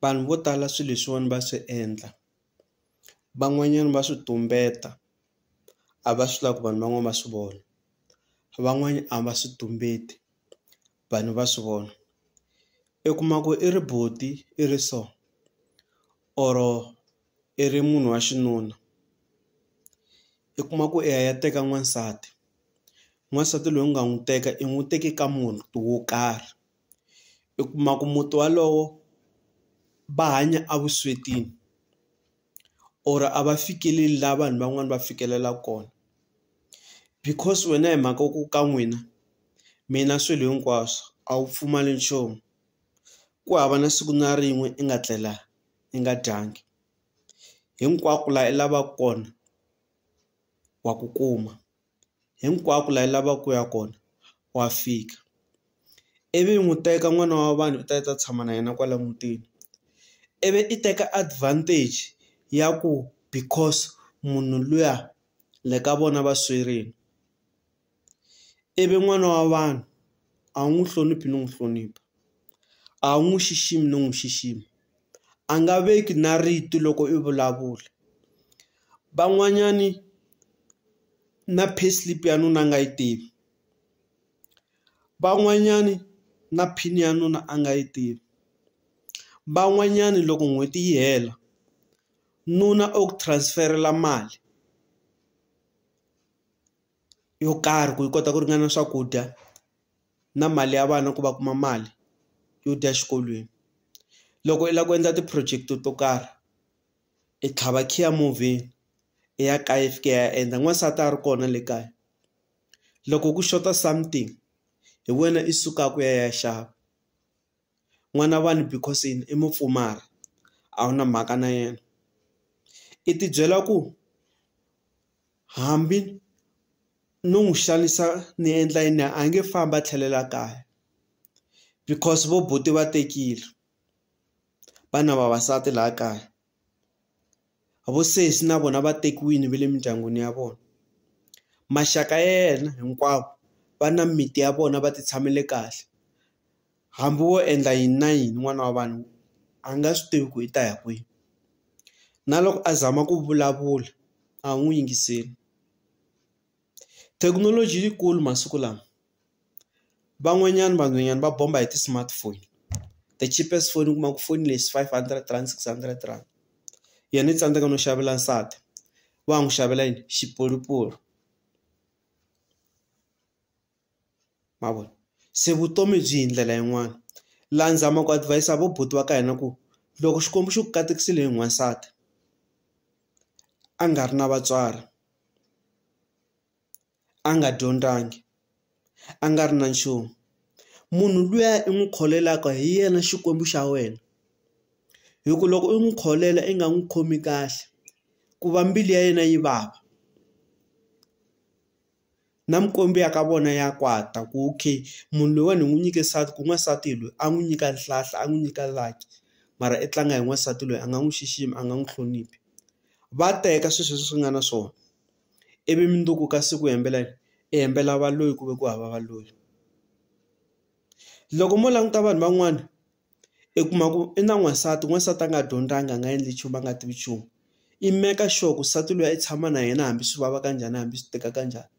Vanhu vo tala swilo leswiwani va swi endla van'wanyana va swi tumbeta a va swi lavi ku vanhu van'wana va swi vona van'wani a va swi tumbeti vanhu va swi vona i kuma ku i ri buti i ri so or i ri munhu wa xinuna i kuma ku i ya i ya teka n'wansati n'wansati loyi u nga n'wi teka i n'wi teke ka munhu wo karhi. i kuma ku muti walowo va hanya evuswetini or a va fikeleli laha vanhu van'wani va fikelela kona because wena hi mhaka ku ka n'wina mi na swilo hinkwaswo a wu pfumali nchumu ku hava na siku na rin'we i nga tlela i nga dyangi hinkwako laha i lavaka kona wa ku kuma. hinkwako laha yi lavaka ku ya kona wa fika ivi n'wi teka n'wana wa vanhu u ta ta tshama na yena kwala mutini ivi i teka advantage ya ku because munhu luya le ka vona va swerini ivi n'wana wa vanhu a wu n'wi hloniphi no n'wi hlonipha a wu n'wi xiximi no n'wi xixima. a nga veki na rito loko i vulavula van'wanyani na pay slip ya nuna a nga yi tivi van'wanyani na pin ya nuna a nga yi tivi van'wanyani loko n'hweti yi hela nuna u ku transfer-ela mali yo karhi ku yi kota ku ringana swakudya. na mali ya vana ku va kuma mali yo dya exikolweni loko i lava ku endla ti-project to karhi i tlhava khiya movheni i ya kaya i fika i ya endla n'wansati a ri kona le kaya loko ku xota something hi wena i sukaka u ya ya xava. n'wana vanhu because yini i mupfumari a wu na mhaka na yena i ti byela ku hambi no n'wi xanisa ni endla yini a nge fambi a tlhelela kaya because vo buti va tekile va na vavasati laha kaya Vosesi na vona va tekiwini va le mindyangwini ya vona maxaka ya yena hinkwavo va na mimiti ya vona va ti tshamele kahle hambi wo endla yini na yini n'wana wa vanhu a nga swi tivi ku i ta ya kwihi na loko a zama ku vulavula a wu n'wi yingiseli. Thekinoloji yikulu masiku lawa van'wanyana vanhwanyana va bomba hi ti-smartphone the cheapest phone u kuma ku foni lexi five hundred rand six hundred rand yena i tsandzeka no xavela nsati wa ha n'wi xavela yini xipolupolu. ma vona se vutomi byi hi ndlela yin'wana la ni zama ku advise vo buti va ka hina ku loko xikwembu xi ku katekisile hi n'wansati a nga ri na vatswari a nga dyondlangi a nga ri na nchumu munhu luya i n'wi kholelaka hi yena xikwembu xa wena hi ku loko u n'wi kholela i nga n'wi khomi kahle ku va mbilu ya yena yi vava. na mikwembu ya ka vona ya kwata ku okay munhu loyiwani hi n'wi nyike nsati ku n'wansati loyi a n'wi nyika nhlahla a n'wi nyika lucky mara i tlanga hi n'wansati loyi a nga n'wi xiximi a nga n'wi hloniphi va teka swi sweswo swi nga na swona ivi mundzuku ka siku hembela yini i hembela valoyi ku ve ku hava valoyi loko mo languta vanhu van'wana. i kuma ku i na n'wansati n'wansati a nga dyondzanga a nga endli nchumu a nga tivi nchumu i make sure ku nsati luya i tshama na yena hambi swi vava kanjhani hambi swi tika kanjhani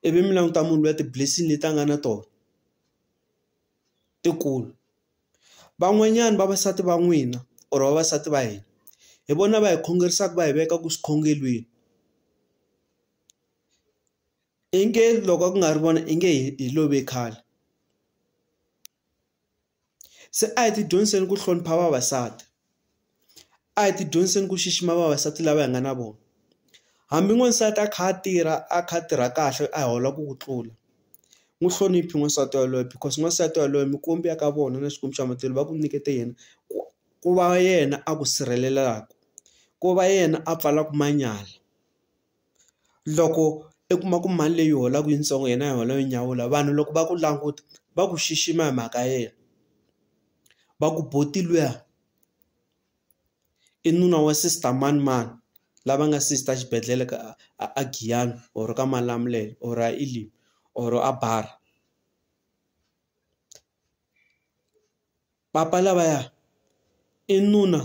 ivi mi languta munhu luya ti-blessing leti a nga na tona ti kulu van'wanyana vavasati va n'wina or vavasati va hina hi vona va hi khongerisaka va hi veka ku swikhongelweni i nge loko a ku nga ri vona i nge hi love khale. Se a hi ti dyondziseni ku hlonipha vavasati a hi ti dyondziseni ku xixima vavasati lava hi nga na vona hambi n'wansati a kha a tirha a kha a tirha kahle a hi holaka ku tlula n'wi hloniphi n'wansati yaloye because n'wansati yaloye mikwembu ya ka vona na Xikwembu xa matlhelo va ku nyiketa yena ku ku va yena a ku sirhelelaka ku va yena a pfalaka manyala. loko i kuma ku mali leyi u yi holaka yitsongo yena a yi hola yo nyawula vanhu loko va ku languta va ku xixima hi mhaka ya yena va ku buti luya i nuna wa sister manimani lava nga sister xibedhlele ka a Giyani or ka Malamulele or a Elim or a Bara. Papa lavaya i nuna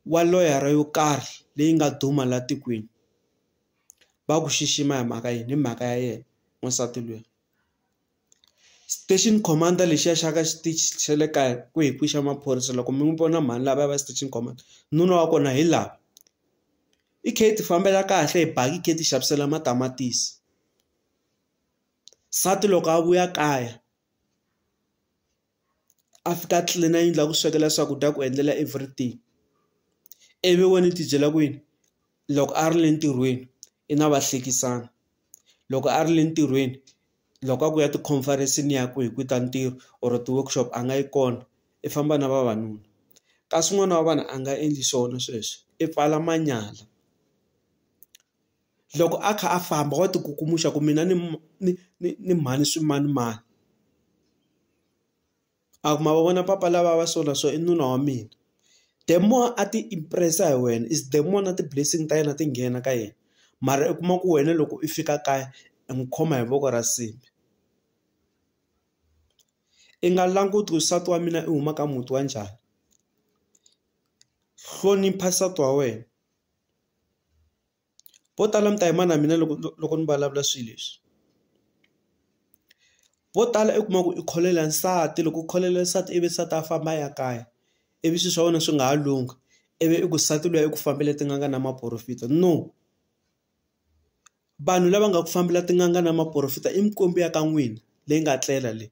wa loyara yo karhi leyi nga duma la tikweni va ku xixima hi mhaka yini hi mhaka ya yena n'wansati luya station commander lexiya xa ka xitichi xa le kaya ku hi kwixa maphorisa loko mi n'wi vona mhani lavaya va station commander nuna wa kona hi la i khe i ti fambela kahle hi baki hi khe hi ti xavisela matamatisi nsati loko a vuya kaya a fika a tlilina yindlu a ku swekela swakudya ku endlela everything ivi wena u tibyela ku yini loko a ri le ntirhweni i na vahlekisani loko a ri le ntirhweni loko a ku ya ti-conference-ni ya ku hi ku ta ntirho or ti-workshop a nga yi kona i famba na vavanuna kasi n'wana wa vanhu a nga endli swona sweswo i pfala manyala. loko a kha a famba wa ti kukumuxa ku mina ni ni ni ni mhani swimanimani a ku ma va vona papa lava va so na so i nuna wa mina the more a ti impress hi wena is the more na ti-blessing ta yena ti nghena ka yena mara u kuma ku wena loko i fika kaya i n'wi khoma hi voko ra nsimbhi i nga languti ku nsati wa mina i huma ka muti wa njhani hlonipha nsati wa wena. Vo tala mi ta yima na mina loko loko ni vulavula swilo leswi. Vo tala u kuma ku i khololela nsati loko u khololela nsati ivi nsati a famba a ya kaya, ivi swilo swa wena swi nga ha lunghi, ivi i ku nsati luya i ku fambela tin'anga na maporofita. No. Vanhu lava nga ku fambela tin'anga na maporofita i mikwembu ya ka n'wina leyi nga tlela leyi.